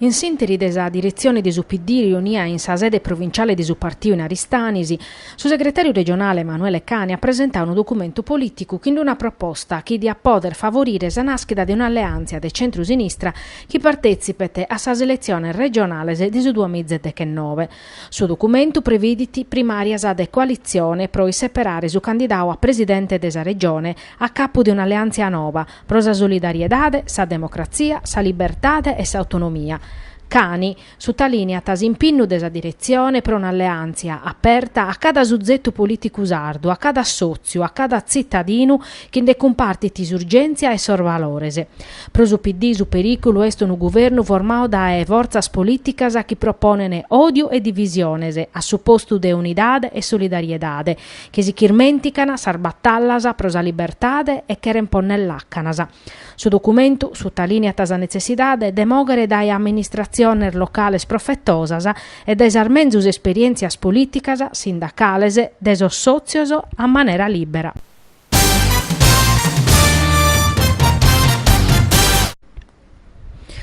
In s'interi de sa diretzione de su PD riunia in sa sede provinciale de su partiu in Aristanis, su segretàriu regionale Emanuele Cani at presentau unu documentu polìticu chin d'una proposta chi diat pòdere favorire sa nàschida de un'alleàntzia de centru-sinistra chi partetzipet a sas eletziones regionales de su duamiza e dechenove. Su documentu previdit primàrias de coalitzione pro isseperare su candidau a presidente de sa Regione a capu de un'alleàntzia noba, Pro sa solidariedade, sa democratzia, sa libertade e s'autonomia, Cani sutalìniat s'impinnu de sa diretzione pro un'alleàntzia aperta a cada suzetu polìticu sardu, a cada sòtziu, a cada tzitadinu chi nde cumpartit s'urgèntzia e sos valores. Pro su PD su perìculu est unu guvernu formau dae fortzas polìticas chi proponent òdiu e divisiones a su postu de unidade e solidariedade, chi si ch'irmèntican sas batallas pro sa libertade e cheren ponnere làcanas. Su documentu sutalìniat sa netzessidade de mòghere dae amministratziones locales profetosas e dae sas menzus esperièntzias polìticas, sindacales, de sos sòtzios a manera lìbera.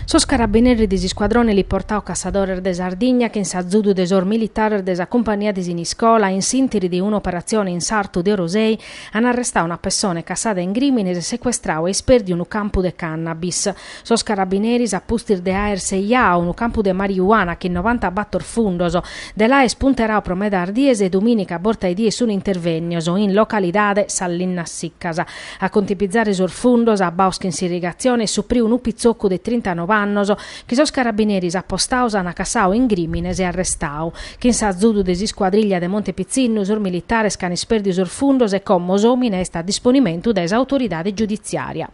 Sos carabineris de s'iscuadrone eliportau Cassadores de Sardigna chin s'azudu de sos militares de sa cumpania de Siniscola in s'intiri de una operatzione in sartu de Orosei an arrestau una pessone cassada in grìmines e secuestrau e ispèrdiu unu campu de cannabis. Sos carabineris a pustis de aer seiau unu campu de mariuana chin novanta bator fundos de l'aer punterau pro medas dies e duminica borta 'e die sun intervennios in localidade Sas Linnas Siccas A contipizare sos fundos abbaos chin s'irrigatzione est supriu unu pitzoccu de trintanove annos chi sos carabineris apostaos an cassao in grìmines e arrestao. Chin s'azudu de s'iscuadriglia de Monte Pitzinnu sos militares ch'an ispèrdiu sos fundos e como s'òmine est a disponimentu de s'autoridade giuditziària.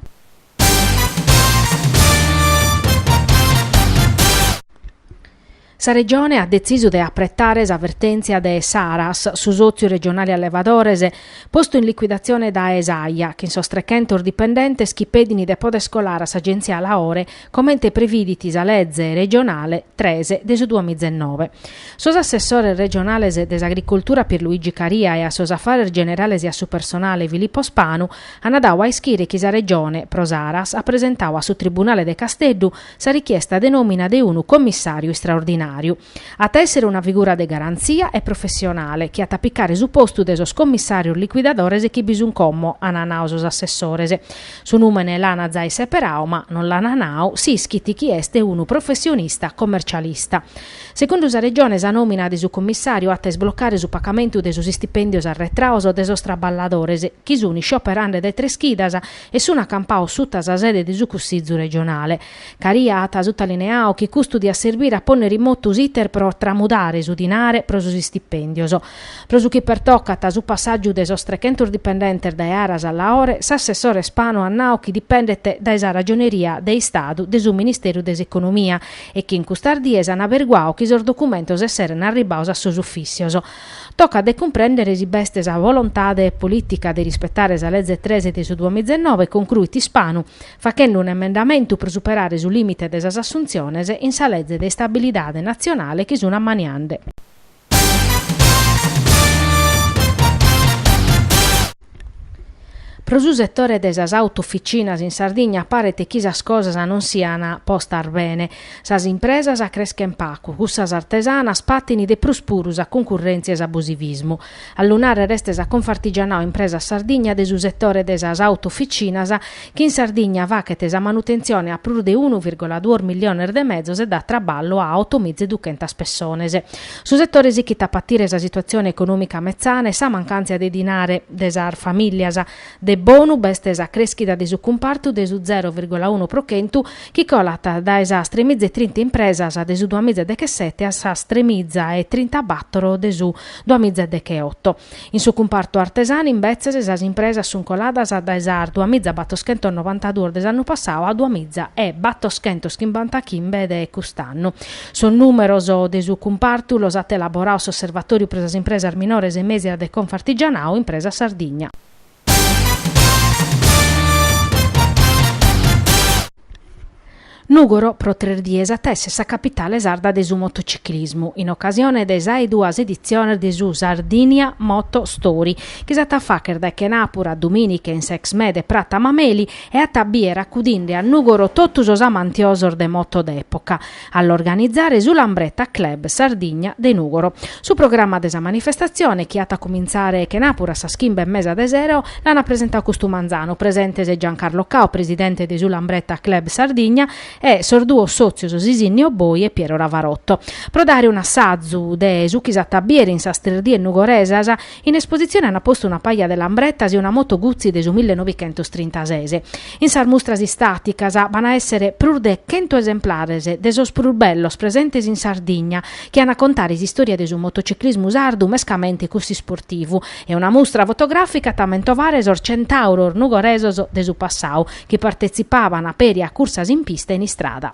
Sa Regione at detzisu de apretare sa vertèntzia de s'Aras, su sòtziu regionale allevadores, postu in liquidatzione dae s'Aia, chin sos trechentos dipendentes chi pedin de poder colare a s'Agèntzia Laore, comente previdit sa Leze regionale tres de su duamiza e nove. Sos assessores regionales de s'Agricoltura Pierluigi Caria e a sos Afares Generales e a su Personale Filippo Spanu an dau a ischire chi sa Regione, pro s'Aras, at presentau a su Tribunale de Casteddu, sa richiesta de nòmina de unu commissàriu istraordinàriu. At a èssere una figura de garantzia e professionale chi at a picare su postu de sos commissàrios liquidadores chi bi sunt como ant nau sos assessores. Su nùmene l'ant zai seperau ma non l'ant nau s'ischit chi est unu professionista commercialista. Segundu sa Regione sa nòmina de su commissàriu at a isblocare su pacamentu de sos istipèndios arretraos de sos traballadores chi sunt iscioperende dae tres chidas e sun acampaos suta sa sede de su Cussizu regionale. Caria at sutalineau chi custu diat serbire a ponnere in motu s'iter pro tramudare su dinare pro sos istipèndios. Pro su chi pertocat su passàgiu de sos trechentos dipendentes dae Aras a Laore, s'assessore Spanu at nau chi dipendet dae sa Ragioneria de Istadu de su Ministeru de s'Economia e chi in custas dies an aberguau chi sos documentos esserent arribbaos a sos ufìssios Tocat de cumprèndere si b'est sa volontade polìtica de rispetare sa Leze tres de su duamitzenoe, concruit Ispanu, fachende un'emendamentu pro superare su lìmite de sas assuntziones in sa Leze de istabilidade natzionale chi sun ammaniende. Pro su setore de sas auto-officinas in Sardigna paret chi sas cosas non sian postas bene. Sas impresas creschen pacu, cussas artesanas patin de prus puru sa concurrèntzia e s'abusivismu. A lu nàrrere est sa Confartigianao Impresa Sardigna de su setore de sas auto-officinas chi in Sardigna fachet sa manutentzione a prus de unu virgola duos milliones de mezos e dat traballu a oto miza e duchentas pessones. Su setore sichit a patire sa situatzione econòmica metzana e sa mancàntzia de dinare de sas famìlias. De bonu b'est sa crèschida de su cumpartu de su zero virgola unu pro chentu, chi colat dae sas tremiza e trinta impresas de su duamiza e dechesete a sas tremiza e trintabàtoro de su duamiza e decheoto. In su cumpartu artesanu, imbetzes, sas impresas sun coladas dae sas duamizabattoschentos novantaduos de s'annu passau a duamiza e battoschentos chimbantachimbe de cust'annu. Sos nùmeros de su cumpartu los at elaboraos s'Osservatòriu pro sas impresas minores e mèsias de Confartigianao Impresa Sardigna. Nùgoro pro tres dies at esser sa capitale sarda de su motociclismu, in ocasione de sas duas editziones de su Sardinia Moto Story, chi s'at a fàchere dae chenàpura a domìnica in s'Exmé de Prata Mameli e at a bìere acudinde a Nùgoro totu sos amantiosos de moto d'època. a l'organizare su Lambretta Club Sardigna de Nùgoro. Su programma de sa manifestatzione, chi at a cumintzare chenàpura a sas chimbe e mesa de sero, l'ant presentau custu manzanu, presentes Giancarlo Cao, presidente de su Lambretta Club Sardigna, e sos duos sòtzios Sisinnio Boi e Piero Ravarotto, pro dare un'assazu de su chi s'at a bìere in sas tres dies nugoresas, In espositzione ant postu una paja de lambretas e una moto Guzzi de su milli nobichentos trintases. In sas mustras istàticas b'ant a èssere prus de chentu esemplares de sos prus bellos presentes in Sardigna, chi ant a contare s'istòria de su motociclismu sardu mescamente cuss'isportivu, e una mustra fotogràfica at a mentovare sos centàuros nugoresos de su passau, chi partetzipàvant peri a cursas in pista e in istrada.